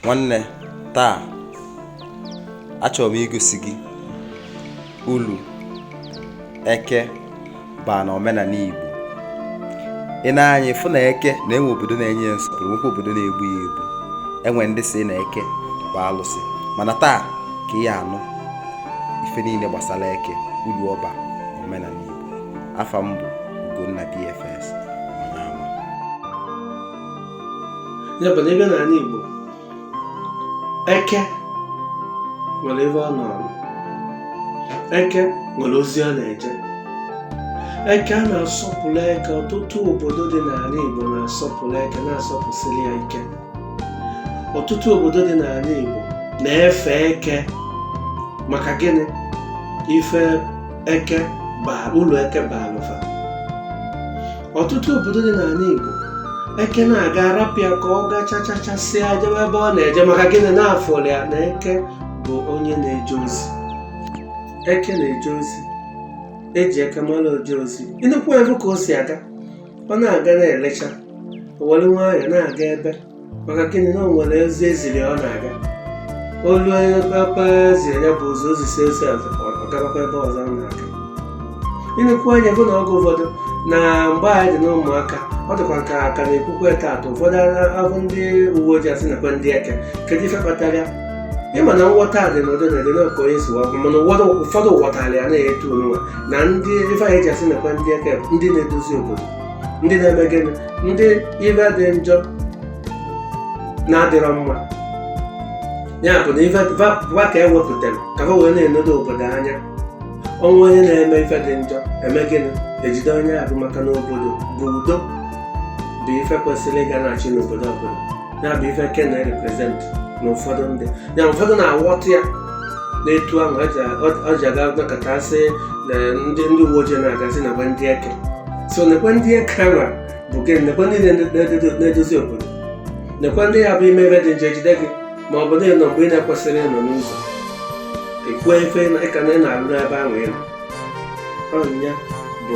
nwanne taa achọrọ m igosi gị ulu eke baa na omenanị Igbo ị nee anya ị fụ na eke na enwe obodo na-enye ya nsọpụrụ nwekwa obodo na-egbu ya egbu enwe ndị sị na eke bụ alụsị mana taa ka ị ya-anụ ife niile gbasara eke ulu ọ baa na omenanị Igbo afa m bụ Ugonna BFS ya bụ na ebe n'anị Igbo eke nwere ebe ọ nọ eke nwere ozi ọ na-eje eke a na-asọpụrụ eke ọtụtụ obodo dị n'anị Igbo na-asọpụrụ eke na-asọpụsịrị ya ike ọtụtụ obodo dị n'anị Igbo na-efe eke maka gịnị ife eke ulu eke bara ọtụtụ obodo dị n'anị Igbo eke na-aga a rapụ ya ka ọ gachachasịa jebe ebe ọ na-eje maka gịnị na a fụrụ ya na eke bụ onye na-eje ozi eke na-eje ozi e ji eke mara oje ozi ị nekwu ya bụ ka o si aga ọ na-aga na-elecha o were nwayọọ na-aga ebe maka gịnị na o nwere ozi e ziri ọ na-aga o lue onye papa ziri ya bụ ụzọ o zisịa ozi ọ gabakwa ebe ọzọ ọ na-aga ị nekwu anya fụ na oge ụfọdụ na mgbe anyị dị n'ụmụaka ọ dịkwa ka a ka na-ekwukwa taata ụfọdụ afụ ndị uwe ojii asị nekwa ndị eke kedu ife kpatara ya ị ma na nghọta a dị n'ụdị n'ụdị na ka onye si wee kwuo mana ụfọdụ ụfọdụ ghọtara ya n'etu ọnwa na ndị ife anyị ji asị nekwa ndị eke ndị na-edozi obodo ndị na-eme gịnị ndị ife dị njọ na-adịrọ mma ya bụ na ife va ka e wepụtara ka ha wee na-enedo obodo anya o nwee onye na-eme ife dị njọ eme gịnị ejide onye ọ bụ maka na obodo bụ udo bụ ife kwesịrị ịga na-achị n'obodo ọbụla ya bụ ife eke na-represent na ụfọdụ ndị ya ụfọdụ na-aghọta ya n'etu ahụ ọ ji aga nakọta sị na ndị ndị uwe ojii na-aga asị nekwa ndị eke so nekwa ndị eke ahụ bụ nekwa ndị na-edozi obodo nekwa ndị ya bụ i mee ife dị njọ ejide gị ma ọ bụ na ị nọ mgbe ị na-ekwesịrị ịnọ n'ụzọ i kwuo ife ị na-alụ n'ebe ahụ ị nọ ya bụ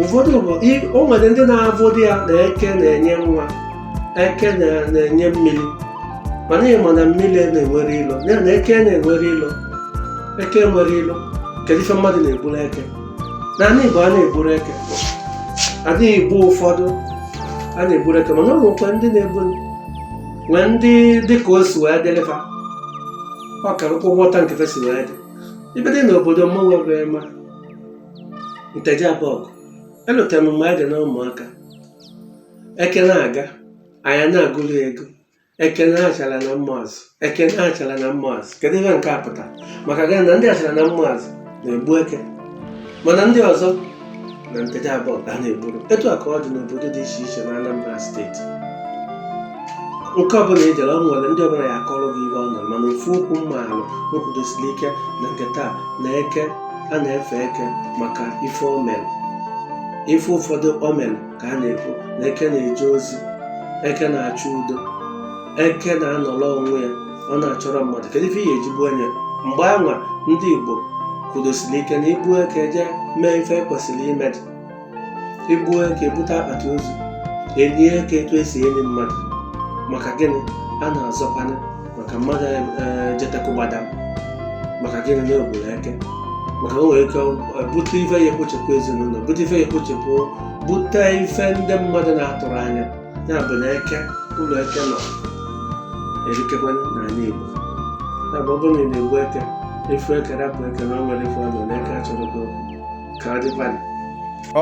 ụfọdụ bụ o nwere ndị na-afụdị ya na eke na-enye nwa eke na-enye mmiri mana ị ma na mmiri enwerọ ilo na eke enwerọ ilo eke enwerọ ilo kedu ife mmadụ na-egburu eke n'anị Igbo a na-egburọ eke n'anị Igbo ụfọdụ a na-egburọ eke mana o nwekwa ndị na-egbu nwee ndị dịka o si wee dịrị fa ọ ka ị ghọta ka ife si wee dị ife dị n'obodo mmanwe wee ma nteje abọgụ elotara m mgbe a dị na ụmụaka eke na-aga anyị na-agụrụ ya egwu eke ndị achara na ụmụazụ eke ndị achara na ụmụazụ kedu ihe nke a pụta maka gịnị na ndị achara na ụmụazụ na-egbu eke mana ndị ọzọ na nteje abọgụ a na-egburu etu a ka ọ dị n'obodo dị iche iche na Anambra steeti nke ọbụla ị jere ọ nwere ndị ọbụla ya akọrọ gị ihe ọ nọ mana ofu okwu m maalụ m kwudosiri ike na nke taa na eke a na-efe eke maka ife o mere ife ụfọdụ o mere ka a na-ekwu na eke na-eje ozi eke na-achọ udo eke na-anọrọ onwe ya ọ na-achọrọ mmadụ kedu ife ị ya eji gbuo nya mgbe anwa ndị igbo kwudosiri ike na i gbuo eke jee mee ife e kwesịrị ime dị e gbuo eke e bute akpati ozu e lie eke etu esi eli mmadụ maka gịnị a na-azọkwanye maka mmadụ jetekụgbada maka gịnị na o gburu eke maka o nwere ike bute ife ya ekpochepụ ezinụlọ bute ife ya ekpochepụ bute ife ndị mmadụ na-atụrọ anya ya bụ na eke ụlọ eke nọ erikakwa n'ala Igbo ya bụ ọ bụrụ na ị na-egbu eke ị fụ eke rapụ eke na o nwere ife ọ nọ na eke achọrọ gị okwu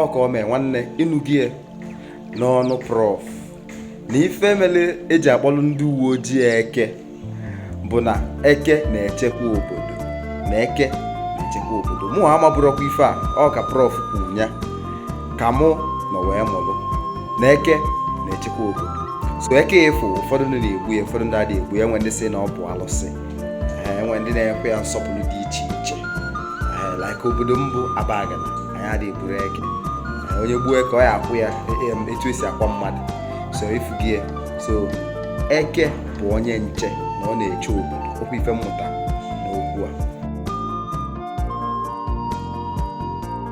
ọkaomee nwanne ị nụgie n'ọnụ prọf na ife mere e ji akpọrọ ndị uwe ojii eke bụ na eke na-echekwa obodo na eke na-echekwa obodo mụ amabụrọkwa ife a ọ ka prọf kwuru ya ka mụ nọ wee mụrụ na eke na-echekwa obodo so eke efu ụfọdụ ndị na-egbu ya ụfọdụ ndị adịghị egbu ya e nwee ndị sị na ọ bụ alụsị e nwee ndị na-ekwe ya nsọpụrụ dị iche iche like obodo m bụ abagana anyị adịghị egbu eke onye gbuo eke ọ ya akwa ya e, e, etu esi akwa mmadụ so ị fụgie so eke bụ onye nche na ọ na-eche obodo ọ kwa ife m mụta